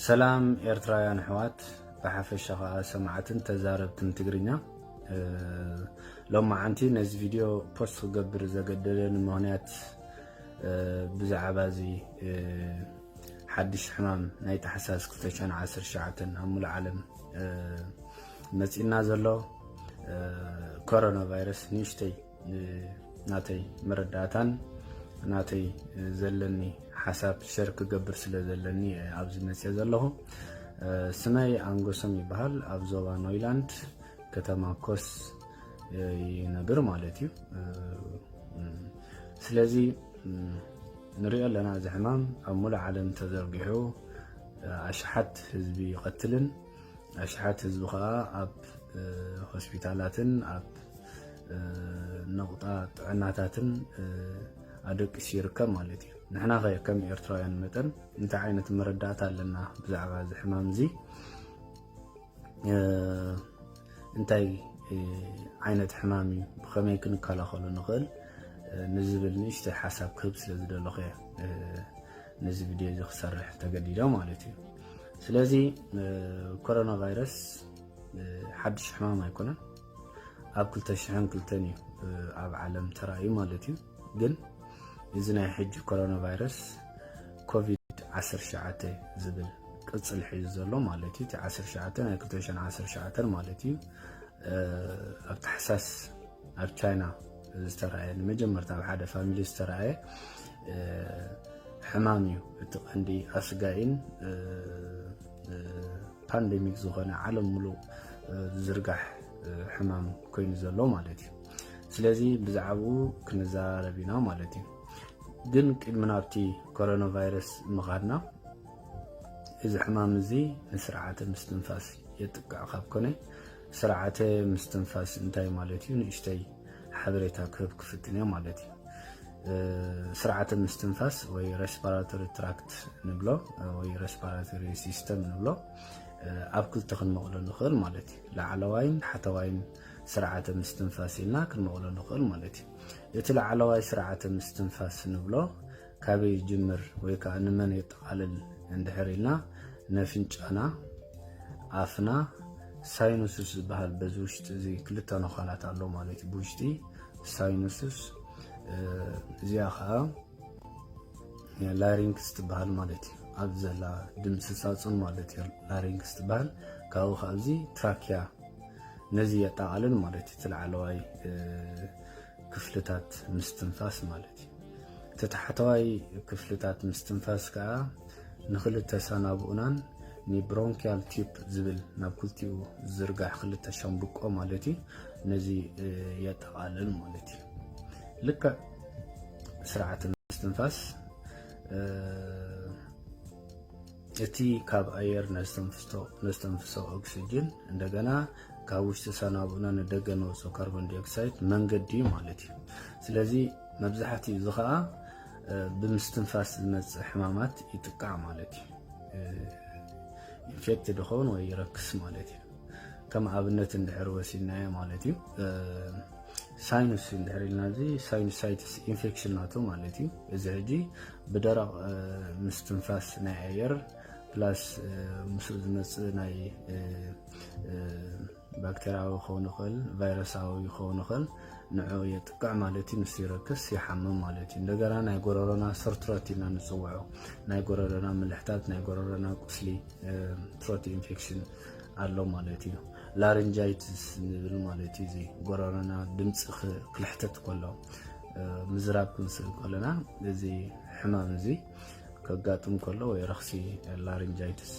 ሰላም ኤርትራውያን ኣሕዋት ብሓፈሻ ከዓ ሰማዕትን ተዛረብትን ትግርኛ ሎማዓንቲ ነዚ ቪድዮ ፖስት ክገብር ዘገደደኒ ምክንያት ብዛዕባ እዚ ሓድሽ ሕማም ናይ ታሕሳስ 2019 ኣብ ሙሉእ ዓለም መፂእና ዘሎ ኮሮና ቫይረስ ንእሽተይ ናተይ መረዳእታን ናተይ ዘለኒ ሓሳብ ሸር ክገብር ስለ ዘለኒ ኣብዚ መፅ ዘለኹ ስመይ ኣንጎሶም ይበሃል ኣብ ዞባ ኖይላንድ ከተማ ኮስ ይነብር ማለት እዩ ስለዚ ንሪኦ ኣለና እዚ ሕማም ኣብ ሙሉእ ዓለም ተዘርጊሑ ኣሽሓት ህዝቢ ይቐትልን ኣሽሓት ህዝቢ ከዓ ኣብ ሆስፒታላትን ኣብ ነቑጣ ጥዕናታትን ኣደቂሱ ይርከብ ማለት እዩ ንሕና ከ ከም ኤርትራውያን መጠን እንታይ ዓይነት መረዳእታ ኣለና ብዛዕባ እዚ ሕማም እዚ እንታይ ዓይነት ሕማም እዩ ብከመይ ክንከላኸሉ ንኽእል ንዝብል ንእሽተይ ሓሳብ ክህብ ስለ ዝደለኹ እየ ነዚ ቪድዮ እዚ ክሰርሕ ተገዲዶ ማለት እዩ ስለዚ ኮሮና ቫይረስ ሓድሽ ሕማም ኣይኮነን ኣብ 202 እዩ ኣብ ዓለም ተራእዩ ማለት እዩ ግን እዚ ናይ ሕጂ ኮሮና ቫይረስ ኮቪድ ዓሰርተ ትሽዓተ ዝብል ቅጽል ሒዙ ዘሎ ማለት እዩ እቲ ዓሰርተ ትሽዓተ ናይ ክልተ ሽሕን ዓሰርተ ትሽዓተን ማለት እዩ ኣብ ታሕሳስ ኣብ ቻይና ዝተረኣየ ንመጀመርታ ኣብ ሓደ ፋሚሊ ዝተረኣየ ሕማም እዩ እቲ ቀንዲ ኣስጋኢን ፓንደሚክ ዝኾነ ዓለም ሙሉእ ዝርጋሕ ሕማም ኮይኑ ዘሎ ማለት እዩ ስለዚ ብዛዕባኡ ክንዘራረብ ኢና ማለት እዩ ግን ቅድሚ ናብቲ ኮሮና ቫይረስ ምኻድና እዚ ሕማም እዚ ንስርዓተ ምስትንፋስ የጥቅዕ ካብ ኮነ ስርዓተ ምስትንፋስ እንታይ ማለት እዩ ንእሽተይ ሓበሬታ ክህብ ክፍትን እዮ ማለት እዩ ስርዓተ ምስትንፋስ ወይ ሬስፓራቶሪ ትራክት ንብሎ ወይ ሬስፓራቶሪ ሲስተም ንብሎ ኣብ ክልተ ክንመቕሎ ንኽእል ማለት እዩ ላዕለዋይን ሓተዋይን ስርዓተ ምስትንፋስ ኢልና ክንመቕሎ ንኽእል ማለት እዩ። እቲ ላዕለዋይ ስርዓተ ምስትንፋስ ንብሎ ካበይ ይጅምር ወይ ከዓ ንመን የጠቓልል እንድሕር ኢልና ነፍንጫና፣ ኣፍና፣ ሳይኑስስ ዝበሃል በዚ ውሽጢ እዚ ክልተ ነዃላት ኣሎ ማለት እዩ ብውሽጢ ሳይኑስስ እዚኣ ከዓ ላሪንክስ ትበሃል ማለት እዩ ኣብዚ ዘላ ድምፂ ሳፁን ማለት እዩ ላሪንክስ ትበሃል ካብኡ ካብዚ ትራኪያ ነዚ የጠቓልል ማለት እዩ ትላዕለዋይ ክፍልታት ምስትንፋስ ማለት እዩ እቲ ታሕተዋይ ክፍልታት ምስትንፋስ ከዓ ንክልተ ሰናብኡናን ንብሮንኪያል ቲፕ ዝብል ናብ ክልቲኡ ዝርጋሕ ክልተ ሸምብቆ ማለት እዩ ነዚ የጠቓልል ማለት እዩ ልክዕ ስርዓተ ምስትንፋስ እቲ ካብ ኣየር ነስተንፍሶ ኦክሲጅን እንደገና ካብ ውሽጢ ሰናቡና ንደገ ንወፆ ካርቦን ዲኦክሳይድ መንገዲ እዩ ማለት እዩ ስለዚ መብዛሕትኡ እዚ ከዓ ብምስትንፋስ ዝመፅእ ሕማማት ይጥቃዕ ማለት እዩ ኢንፌክት ድኸውን ወይ ይረክስ ማለት እዩ ከም ኣብነት እንድሕር ወሲድናዮ ማለት እዩ ሳይኑስ እንድሕር ኢልና እዚ ሳይኑሳይትስ ኢንፌክሽን ናቱ ማለት እዩ እዚ ሕጂ ብደረቕ ምስትንፋስ ናይ ኣየር ፕላስ ምስኡ ዝመፅእ ናይ ባክቴርያዊ ክኸውን ይኽእል ቫይረሳዊ ክኸውን ይኽእል ንዑ የጥቅዕ ማለት እዩ ምስ ይረክስ ይሓምም ማለት እዩ እንደገና ናይ ጎረሮና ሰርትሮት ኢና ንፅውዖ ናይ ጎረሮና ምልሕታት ናይ ጎረሮና ቁስሊ ትሮት ኢንፌክሽን ኣሎ ማለት እዩ ላርንጃይትስ ንብል ማለት እዩ። እዚ ጎረሮና ድምፂ ክልሕተት ከሎ ምዝራብ ክንስእል ከለና እዚ ሕማም እዚ ከጋጥም ከሎ ወይ ረኽሲ ላርንጃይትስ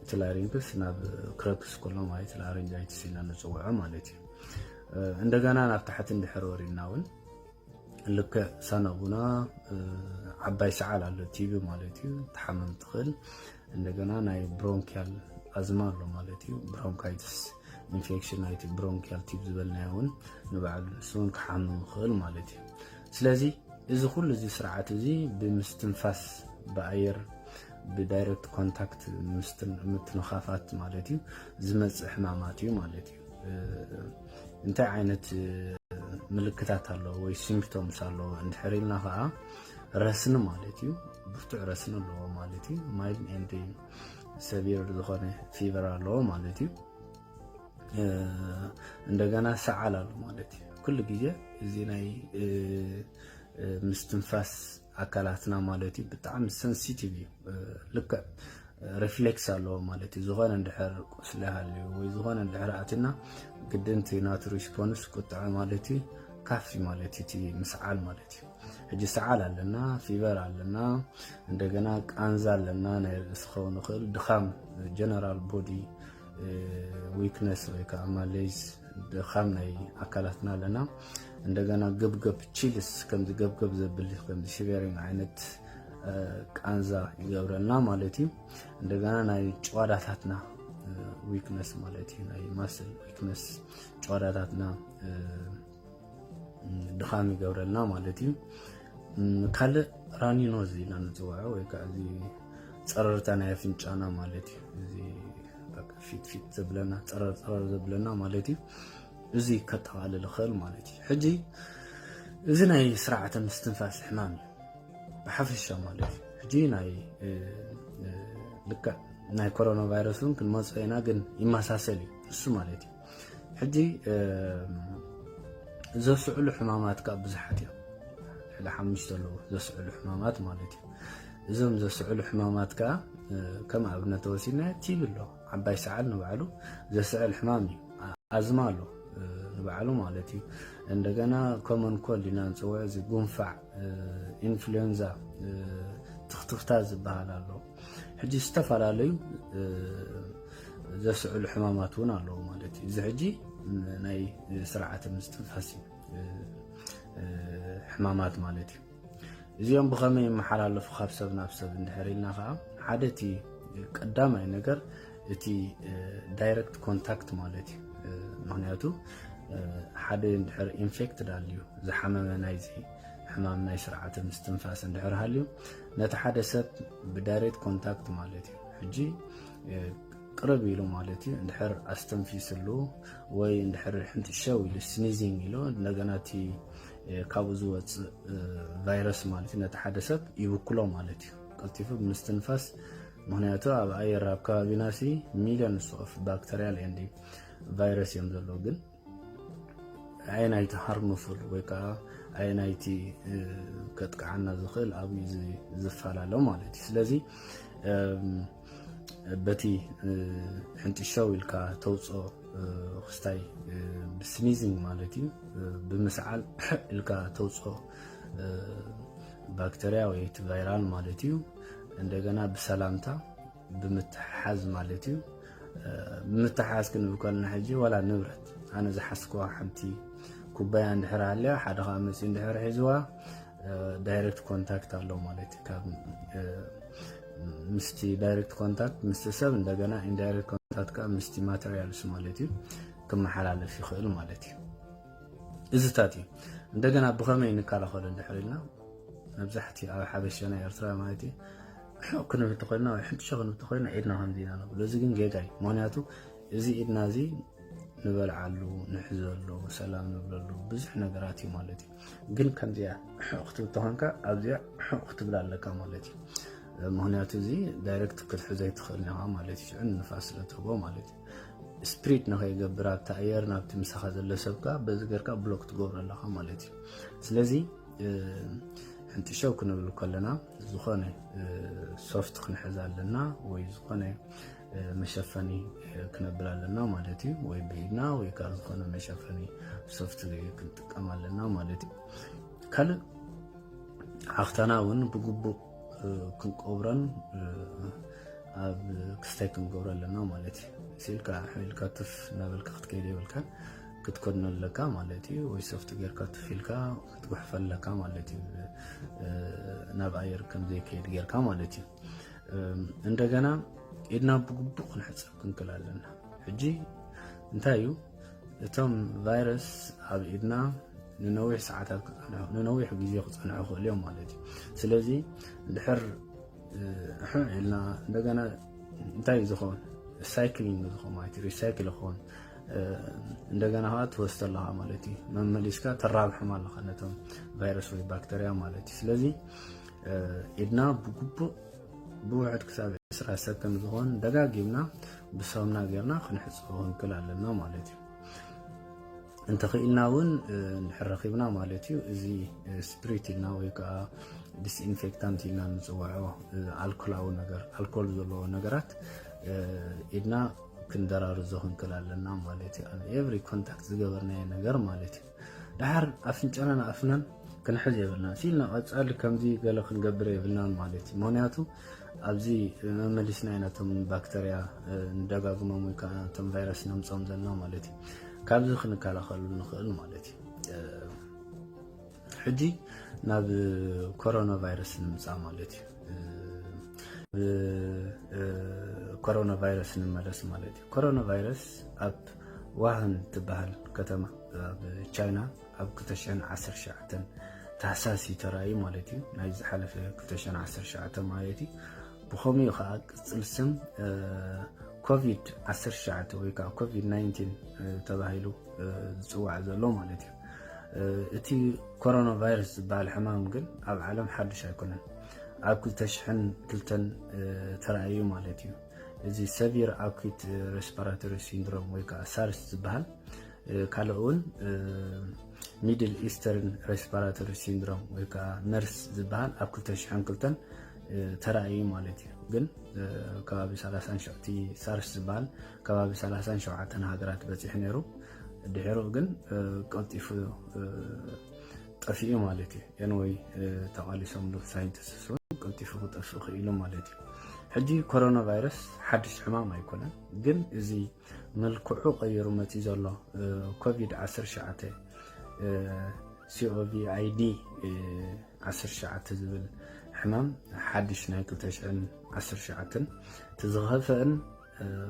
እቲ ላሪንግስ ናብ ክረክስ ከሎ ማለት ላርንጃይትስ ኢና ንፅውዖ ማለት እዩ። እንደገና ናብ ታሕቲ እንድሕር ወሪድና እውን ልክዕ ሳናቡና ዓባይ ሰዓል ኣሎ ቲቪ ማለት እዩ ተሓመም ትኽእል እንደገና ናይ ብሮንኪያል ኣዝማ ኣሎ ማለት እዩ ብሮንካይትስ ኢንፌክሽን ናይቲ ብሮንኪያል ቲብ ዝበልናዮ እውን ንባዕሉ ንሱ እውን ክሓምም ይኽእል ማለት እዩ ስለዚ እዚ ኩሉ እዚ ስርዓት እዚ ብምስትንፋስ ብኣየር ብዳይረክት ኮንታክት ምትንኻፋት ማለት እዩ ዝመፅእ ሕማማት እዩ ማለት እዩ እንታይ ዓይነት ምልክታት ኣለዎ ወይ ሲምፕቶምስ ኣለዎ እንድሕር ኢልና ከዓ ረስኒ ማለት እዩ ብርቱዕ ረስኒ ኣለዎ ማለት እዩ ማይል ኤንድ ሰቢር ዝኾነ ፊቨር ኣለዎ ማለት እዩ እንደገና ሰዓል ኣሎ ማለት እዩ ኩሉ ግዜ እዚ ናይ ምስትንፋስ ኣካላትና ማለት እዩ ብጣዕሚ ሰንሲቲቭ እዩ ልክዕ ሪፍሌክስ ኣለዎ ማለት እዩ። ዝኾነ እንድሕር ቁስሊ ሃልዩ ወይ ዝኾነ እንድሕር ኣትና ግድን እቲ ናቱ ሪስፖንስ ቁጥዐ ማለት እዩ ካፍ ማለት እዩ እቲ ምስዓል ማለት እዩ። ሕጂ ሰዓል ኣለና፣ ፊቨር ኣለና፣ እንደገና ቃንዛ ኣለና፣ ናይ ርእሲ ክኸውን ይኽእል ድኻም፣ ጀነራል ቦዲ ዊክነስ ወይ ከዓ ማሌዝ ድኻም ናይ ኣካላትና ኣለና። እንደገና ገብገብ ቺልስ ከምዚ ገብገብ ዘብል ከምዚ ሽቨሪንግ ዓይነት ቃንዛ ይገብረልና ማለት እዩ እንደገና ናይ ጨዋዳታትና ዊክነስ ማለት እዩ ናይ ማስል ዊክነስ ጨዋዳታትና ድኻም ይገብረልና ማለት እዩ ካልእ ራኒኖ እዚ ኢና ንፅውዖ ወይ ከዓ እዚ ፀረርታ ናይ ኣፍንጫና ማለት እዩ እዚ ፊት ፊት ዘብለና ፀረር ፀረር ዘብለና ማለት እዩ እዚ ከጠቃልል ይኽእል ማለት እዩ ሕጂ እዚ ናይ ስርዓተ ምስትንፋስ ሕማም እዩ ብሓፈሻ ማለት እዩ ሕጂ ናይ ልክዕ ናይ ኮሮና ቫይረስ እውን ክንመፆ ኢና ግን ይመሳሰል እዩ ንሱ ማለት እዩ ሕጂ ዘስዕሉ ሕማማት ካብ ብዙሓት እዮም ልዕሊ ሓሙሽተ ኣለዎ ዘስዕሉ ሕማማት ማለት እዩ እዞም ዘስዕሉ ሕማማት ከዓ ከም ኣብነት ተወሲድና ቲብ ኣሎ ዓባይ ሰዓል ንባዕሉ ዘስዕል ሕማም እዩ ኣዝማ ኣሎ ንባዕሉ ማለት እዩ እንደገና ኮመን ኮልድ ኢና ንፅውዕ እዚ ጉንፋዕ ኢንፍሉዌንዛ ትኽትኽታ ዝበሃል ኣሎ ሕጂ ዝተፈላለዩ ዘስዕሉ ሕማማት እውን ኣለዉ ማለት እዩ እዚ ሕጂ ናይ ስርዓተ ምስትንፋስ ሕማማት ማለት እዩ እዚኦም ብኸመይ ይመሓላለፉ ካብ ሰብ ናብ ሰብ እንድሕር ኢልና ከዓ ሓደ እቲ ቀዳማይ ነገር እቲ ዳይረክት ኮንታክት ማለት እዩ ምክንያቱ ሓደ እንድሕር ኢንፌክትድ ኣልዩ ዝሓመመ ናይዚ ሕማም ናይ ስርዓተ ምስትንፋስ እንድሕር ሃልዩ ነቲ ሓደ ሰብ ብዳይሬክት ኮንታክት ማለት እዩ ሕጂ ቅርብ ኢሉ ማለት እዩ እንድሕር ኣስተንፊስሉ ወይ እንድሕር ሕንጥሸው ኢሉ ስኒዚንግ ኢሉ እንደገና እቲ ካብኡ ዝወፅእ ቫይረስ ማለት እዩ ነቲ ሓደ ሰብ ይብክሎ ማለት እዩ ቀልጢፉ ብምስትንፋስ ምክንያቱ ኣብ ኣየር ኣብ ከባቢና ሲ ሚልዮንስ ኦፍ ባክተርያል ኤንድ ቫይረስ እዮም ዘለዉ ግን ኣየናይቲ ሃርምፉል ወይ ከዓ ኣየናይቲ ከጥቅዓና ዝኽእል ኣብዩ ዝፈላለ ማለት እዩ ስለዚ በቲ ሕንጥሸው ኢልካ ተውፅኦ ክስታይ ብስኒዚንግ ማለት እዩ ብምስዓል ኢልካ ተውፅኦ ባክተርያ ወይ እቲ ቫይራል ማለት እዩ እንደገና ብሰላምታ ብምትሕሓዝ ማለት እዩ ብምትሕሓዝ ክንብል ከለና ሕጂ ዋላ ንብረት ኣነ ዝሓስኩዋ ሓንቲ ኩባያ እንድሕር ሃልያ ሓደ ከዓ መፅኡ እንድሕር ሒዝዋ ዳይሬክት ኮንታክት ኣሎ ማለት እዩ ካብ ምስቲ ዳይሬክት ኮንታክት ምስቲ ሰብ እንደገና ኢንዳይሬክት ኮንታክት ከዓ ምስቲ ማተሪያልስ ማለት እዩ ክመሓላለፍ ይኽእል ማለት እዩ እዚታት እዩ እንደገና ብኸመይ ንከላኸሎ እንድሕር ኢልና መብዛሕትኡ ኣብ ሓበሻና ኤርትራ ማለት እዩ ሕቕ ክንብ እንተኮይንና ወይ ሕንጥሸ ክንብ እንተኮይንና ኢድና ከምዚ ኢና ንብሎ እዚ ግን ጌጋ እዩ ምክንያቱ እዚ ኢድና እዚ ንበልዓሉ ንሕዘሉ ሰላም ንብለሉ ብዙሕ ነገራት እዩ ማለት እዩ ግን ከምዚያ ሕቕ ክትብል ተኾንካ ኣብዚያ ሕቕ ክትብል ኣለካ ማለት እዩ ምክንያቱ እዚ ዳይረክት ክትሕዘ ይትኽእል ኢኻ ማለት እዩ ሽዑ ንፋስ ስለ ትህቦ ማለት እዩ ስፕሪድ ንኸይገብር ኣብቲ ኣየር ናብቲ ምሳኻ ዘሎ ሰብካ በዚ ገርካ ብሎክ ትገብሮ ኣለኻ ማለት እዩ ስለዚ ሕንጥሸው ክንብል ከለና ዝኾነ ሶፍት ክንሕዝ ኣለና ወይ ዝኾነ መሸፈኒ ክነብል ኣለና ማለት እዩ ወይ ብኢድና ወይ ካብ ዝኾነ መሸፈኒ ሶፍት ክንጥቀም ኣለና ማለት እዩ ካልእ ሓፍታና እውን ብግቡእ ክንቆብረን ኣብ ክስታይ ክንገብሮ ኣለና ማለት እዩ ሲልካ ሕልካ ትፍ እናበልካ ክትከይድ የብልካ ክትኮድኖ ኣለካ ማለት እዩ ወይ ሶፍቲ ጌርካ ትፍ ኢልካ ክትጉሕፈ ኣለካ ማለት እዩ ናብ ኣየር ከምዘይከይድ ጌርካ ማለት እዩ እንደገና ኢድና ብግቡእ ክንሕፀብ ክንክል ኣለና ሕጂ እንታይ እዩ እቶም ቫይረስ ኣብ ኢድና ንነዊሕ ሰዓታት ክፀንሑ ንነዊሕ ግዜ ክፀንሑ ይኽእሉ እዮም ማለት እዩ ስለዚ ድሕር ሕዕ ኢልና እንደገና እንታይ እዩ ዝኸውን ሳይክሊንግ ዝኸውን ማለት እዩ ሪሳይክል ይኸውን እንደገና ከዓ ትወስድ ኣለኻ ማለት እዩ መመሊስካ ተራብሖም ኣለኻ ነቶም ቫይረስ ወይ ባክተርያ ማለት እዩ ስለዚ ኢድና ብግቡእ ብውሕድ ክሳብ ዕስራ ሰብ ከም ዝኾን ደጋጊምና ብሳሙና ጌርና ክንሕፅቦ ክንክል ኣለና ማለት እዩ እንተኽኢልና እውን ንሕረኺብና ማለት እዩ እዚ ስፕሪት ኢልና ወይ ከዓ ዲስኢንፌክታንት ኢልና ንፅውዖ ኣልኮላዊ ነገር ኣልኮል ዘለዎ ነገራት ኢድና ክንደራርዞ ክንክል ኣለና ማለት እዩ ኣብ ኤቭሪ ኮንታክት ዝገበርናዮ ነገር ማለት እዩ ደሓር ኣፍንጫናን ኣፍናን ክንሕዝ የብልና ሲልና ቀፃሊ ከምዚ ገለ ክንገብር የብልናን ማለት እዩ ምክንያቱ ኣብዚ መመሊስና ኢና ቶም ባክተርያ ንደጋግሞም ወይ ከዓ ቶም ቫይረስ ነምፆም ዘለና ማለት እዩ ካብዚ ክንከላኸሉ ንኽእል ማለት እዩ ሕጂ ናብ ኮሮና ቫይረስ ንምፃእ ማለት እዩ ኮሮና ቫይረስ ንመለስ ማለት እዩ ኮሮናቫይረስ ኣብ ዋሃን እትበሃል ከተማ ኣብ ቻይና ኣብ 2019 ታሕሳስ እዩ ተራእዩ ማለት እዩ ናይ ዝሓለፈ 2019 ማለት እዩ ብኸምኡ እዩ ከዓ ቅፅል ስም ኮቪድ 19 ወይ ከዓ ኮቪድ 19 ተባሂሉ ዝፅዋዕ ዘሎ ማለት እዩ እቲ ኮሮና ቫይረስ ዝበሃል ሕማም ግን ኣብ ዓለም ሓዱሽ ኣይኮነን ኣብ 2002 ተራእዩ ማለት እዩ እዚ ሰቪር ኣኩት ሬስፓራቶሪ ሲንድሮም ወይ ከዓ ሳርስ ዝበሃል ካልኦ እውን ሚድል ኢስተርን ሬስፓራቶሪ ሲንድሮም ወይ ከዓ መርስ ዝበሃል ኣብ 2002 ተራእዩ ማለት እዩ ግን ከባቢ 37 ሳርስ ዝበሃል ከባቢ 37 ሃገራት በፂሑ ነይሩ ድሕሩ ግን ቀልጢፉ ጠፊኡ ማለት እዩ ኤንወይ ተቓሊሶምሉ ሳይንቲስት እውን ቀልጢፉ ክጠፍእ ክኢሉ ማለት እዩ ሕጂ ኮሮና ቫይረስ ሓድሽ ሕማም ኣይኮነን ግን እዚ መልክዑ ቀይሩ መፂ ዘሎ ኮቪድ 19 ሲኦቪ ኣይዲ 19 ዝብል ሕማም ሓድሽ ናይ 2019 እቲ ዝኸፍአን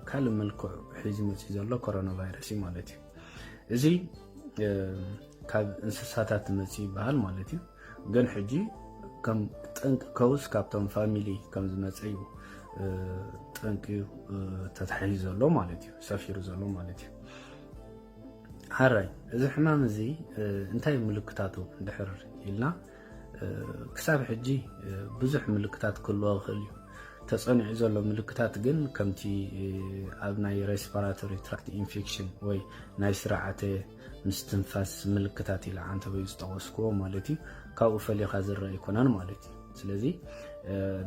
ካልእ መልክዑ ሒዙ መፅዩ ዘሎ ኮሮና ቫይረስ እዩ ማለት እዩ እዚ ካብ እንስሳታት መፅ ይበሃል ማለት እዩ ግን ሕጂ ከም ጠንቂ ከውስ ካብቶም ፋሚሊ ከም ዝመፀ እዩ ጠንቂ ተታሒዙ ዘሎ ማለት እዩ ሰፊሩ ዘሎ ማለት እዩ ሓራይ እዚ ሕማም እዚ እንታይ ምልክታቱ ድሕር ኢልና ክሳብ ሕጂ ብዙሕ ምልክታት ክህልዎ ይኽእል እዩ ተፀኒዑ ዘሎ ምልክታት ግን ከምቲ ኣብ ናይ ሬስፓራቶሪ ትራክት ኢንፌክሽን ወይ ናይ ስርዓተ ምስትንፋስ ምልክታት ኢለ ዓንተበዩ ዝጠቐስክዎ ማለት እዩ ካብኡ ፈሊኻ ዝረአ ኣይኮነን ማለት እዩ ስለዚ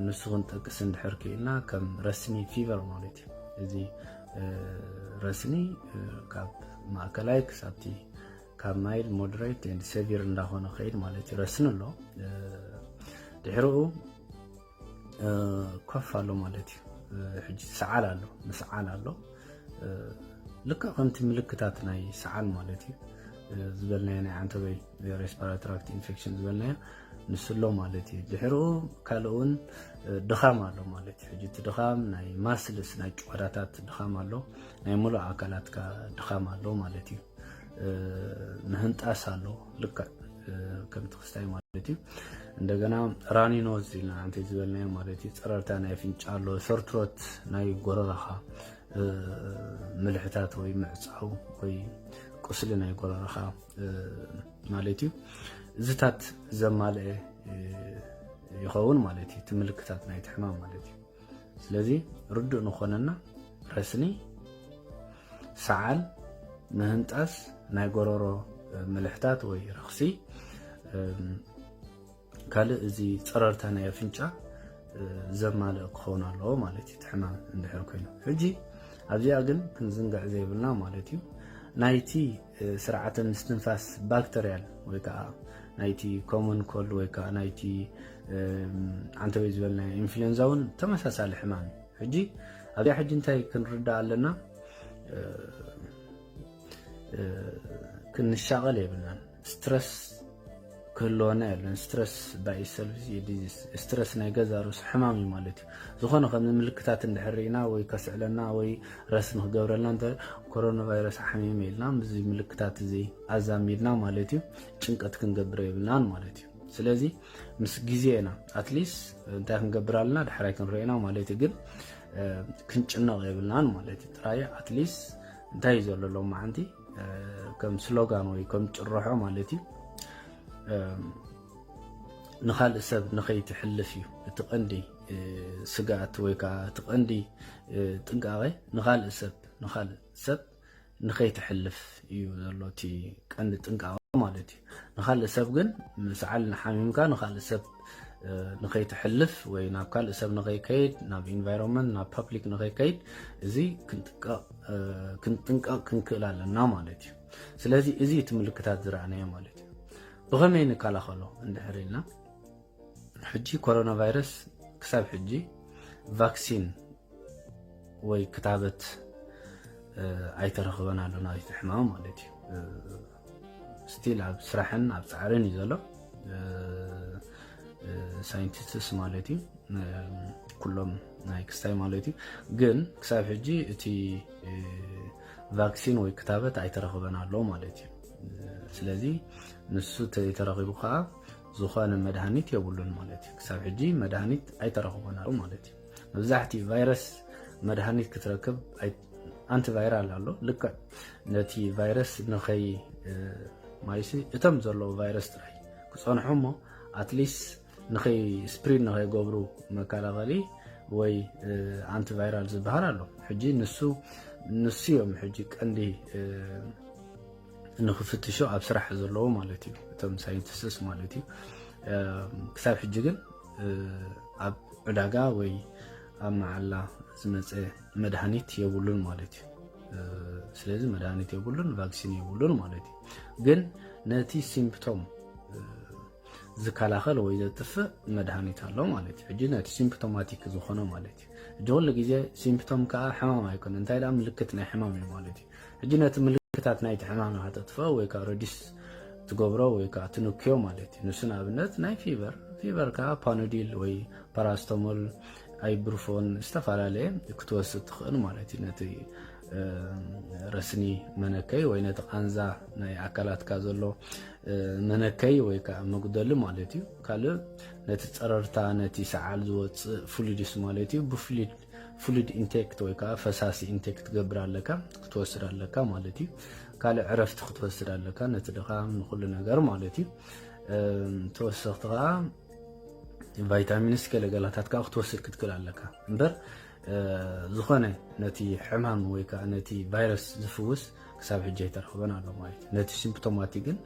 ንሱ ክንጠቅስ እንድሕር ክኢልና ከም ረስኒ ፊቨር ማለት እዩ እዚ ረስኒ ካብ ማእከላይ ክሳብቲ ካብ ማይልድ ሞደሬት ኤንድ ሰቪር እንዳኾነ ክኸይድ ማለት እዩ ረስኒ ኣሎ ድሕርኡ ኮፍ ኣሎ ማለት እዩ ሕጂ ሰዓል ኣሎ ምስዓል ኣሎ ልክዕ ከምቲ ምልክታት ናይ ሰዓል ማለት እዩ ዝበልናዮ ናይ ዓንተበይ ሬስፓራትራክት ኢንፌክሽን ዝበልናዮ ንሱ ኣሎ ማለት እዩ ድሕርኡ ካልእ እውን ድኻም ኣሎ ማለት እዩ ሕጂ እቲ ድኻም ናይ ማስልስ ናይ ጭዋዳታት ድኻም ኣሎ ናይ ሙሉእ ኣካላትካ ድኻም ኣሎ ማለት እዩ ንህንጣስ ኣሎ ልክዕ ከምቲ ክስታይ ማለት እዩ እንደገና ራኒኖዝ ኢልና ኣንቲ ዝበልናዮ ማለት እዩ ፀረርታ ናይ ኣፍንጫ ኣሎ ሰርትሮት ናይ ጎረራኻ ምልሕታት ወይ ምዕፃው ወይ ቁስሊ ናይ ጎረራኻ ማለት እዩ እዚታት ዘማልአ ይኸውን ማለት እዩ እቲ ምልክታት ናይቲ ሕማም ማለት እዩ ስለዚ ርዱእ ንኾነና ረስኒ ሰዓል ምህንጣስ ናይ ጎረሮ ምልሕታት ወይ ረኽሲ ካልእ እዚ ፀረርታ ናይ ኣፍንጫ ዘማልእ ክኸውን ኣለዎ ማለት እዩ ትሕማም እንድሕር ኮይኑ ሕጂ ኣብዚኣ ግን ክንዝንግዕ ዘይብልና ማለት እዩ ናይቲ ስርዓተ ምስትንፋስ ባክተርያል ወይ ከዓ ናይቲ ኮመን ኮልድ ወይ ከዓ ናይቲ ዓንተወይ ዝበልና ኢንፍሉዌንዛ እውን ተመሳሳሊ ሕማም እዩ ሕጂ ኣብዚኣ ሕጂ እንታይ ክንርዳእ ኣለና ክንሻቐል የብልናን ስትረስ ክህልወና የለን ስትረስ ባይ ሰልፍ ዲዚስ ስትረስ ናይ ገዛ ርእሱ ሕማም እዩ ማለት እዩ ዝኾነ ከም ምልክታት እንድሕር ኢና ወይ ከስዕለና ወይ ረስ ንክገብረልና እንተ ኮሮና ቫይረስ ሓሚመ ኢልና ምስዚ ምልክታት እዚ ኣዛሚድና ማለት እዩ ጭንቀት ክንገብረ የብልናን ማለት እዩ ስለዚ ምስ ግዜ ኢና ኣትሊስ እንታይ ክንገብር ኣለና ዳሕራይ ክንሪኦ ኢና ማለት እዩ ግን ክንጭነቕ የብልናን ማለት እዩ ጥራይ ኣትሊስ እንታይ እዩ ዘሎ ሎም መዓንቲ ከም ስሎጋን ወይ ከም ጭርሖ ማለት እዩ ንካልእ ሰብ ንኸይትሕልፍ እዩ እቲ ቀንዲ ስግኣት ወይ ከዓ እቲ ቀንዲ ጥንቃቐ ንካልእ ሰብ ንካልእ ሰብ ንኸይትሕልፍ እዩ ዘሎ እቲ ቀንዲ ጥንቃቐ ማለት እዩ ንካልእ ሰብ ግን ሰዓል ንሓሚምካ ንካልእ ሰብ ንኸይትሕልፍ ወይ ናብ ካልእ ሰብ ንኸይከይድ ናብ ኢንቫይሮንመንት ናብ ፐብሊክ ንኸይከይድ እዚ ክንጥንቀቕ ክንክእል ኣለና ማለት እዩ ስለዚ እዚ እቲ ምልክታት ዝረኣናዮ ማለት እዩ ብኸመይ ንከላኸሎ እንድሕር ኢልና ሕጂ ኮሮና ቫይረስ ክሳብ ሕጂ ቫክሲን ወይ ክታበት ኣይተረኽበን ኣሎ ናብቲ ሕማም ማለት እዩ ስቲል ኣብ ስራሕን ኣብ ፃዕርን እዩ ዘሎ ሳይንቲስትስ ማለት እዩ ኩሎም ናይ ክስታይ ማለት እዩ ግን ክሳብ ሕጂ እቲ ቫክሲን ወይ ክታበት ኣይተረኽበን ኣሎ ማለት እዩ ስለዚ ንሱ ተረኺቡ ከዓ ዝኾነ መድሃኒት የብሉን ማለት እዩ ክሳብ ሕጂ መድሃኒት ኣይተረኽቦን ኣሎ ማለት እዩ መብዛሕትኡ ቫይረስ መድሃኒት ክትረክብ ኣንቲ ቫይራል ኣሎ ልክዕ ነቲ ቫይረስ ንኸይ ማይሲ እቶም ዘለዉ ቫይረስ ጥራይ ክፀንሑ እሞ ኣትሊስት ንኸይ ስፕሪድ ንኸይገብሩ መከላኸሊ ወይ ኣንቲ ቫይራል ዝበሃል ኣሎ ሕጂ ንሱ ንሱ እዮም ሕጂ ቀንዲ ንክፍትሹ ኣብ ስራሕ ዘለዉ ማለት እዩ እቶም ሳይንቲስትስ ማለት እዩ ክሳብ ሕጂ ግን ኣብ ዕዳጋ ወይ ኣብ መዓላ ዝመፀ መድሃኒት የብሉን ማለት እዩ ስለዚ መድሃኒት የብሉን ቫክሲን የብሉን ማለት እዩ ግን ነቲ ሲምፕቶም ዝከላኸል ወይ ዘጥፍእ መድሃኒት ኣሎ ማለት እዩ ሕጂ ነቲ ሲምፕቶማቲክ ዝኾነ ማለት እዩ ሕጂ ኩሉ ግዜ ሲምፕቶም ከዓ ሕማም ኣይኮነ እንታይ ደኣ ምልክት ናይ ሕማም እዩ ማለት እዩ ሕጂ ነቲ ምልክታት ናይቲ ሕማም ንኸተጥፍኦ ወይ ከዓ ረዲስ ትገብሮ ወይ ከዓ ትንክዮ ማለት እዩ ንሱ ንኣብነት ናይ ፊቨር ፊቨር ከዓ ፓኖዲል ወይ ፓራስቶሞል ኣይብርፎን ዝተፈላለየ ክትወስድ ትኽእል ማለት እዩ ነቲ ረስኒ መነከይ ወይ ነቲ ቃንዛ ናይ ኣካላትካ ዘሎ መነከይ ወይ ከዓ መጉደሊ ማለት እዩ ካልእ ነቲ ፀረርታ ነቲ ሰዓል ዝወፅእ ፍሉድስ ማለት እዩ ብፍሉድ ፍሉድ ኢንቴክት ወይ ከዓ ፈሳሲ ኢንቴክ ትገብር ኣለካ ክትወስድ ኣለካ ማለት እዩ። ካልእ ዕረፍቲ ክትወስድ ኣለካ ነቲ ድኻም ንኩሉ ነገር ማለት እዩ። ተወሰኽቲ ከዓ ቫይታሚንስ ገለገላታት ከዓ ክትወስድ ክትክል ኣለካ እምበር ዝኾነ ነቲ ሕማም ወይ ከዓ ነቲ ቫይረስ ዝፍውስ ክሳብ ሕጂ ኣይተረኽበን ኣሎ ማለት እዩ። ነቲ ሲምፕቶማቲ ግን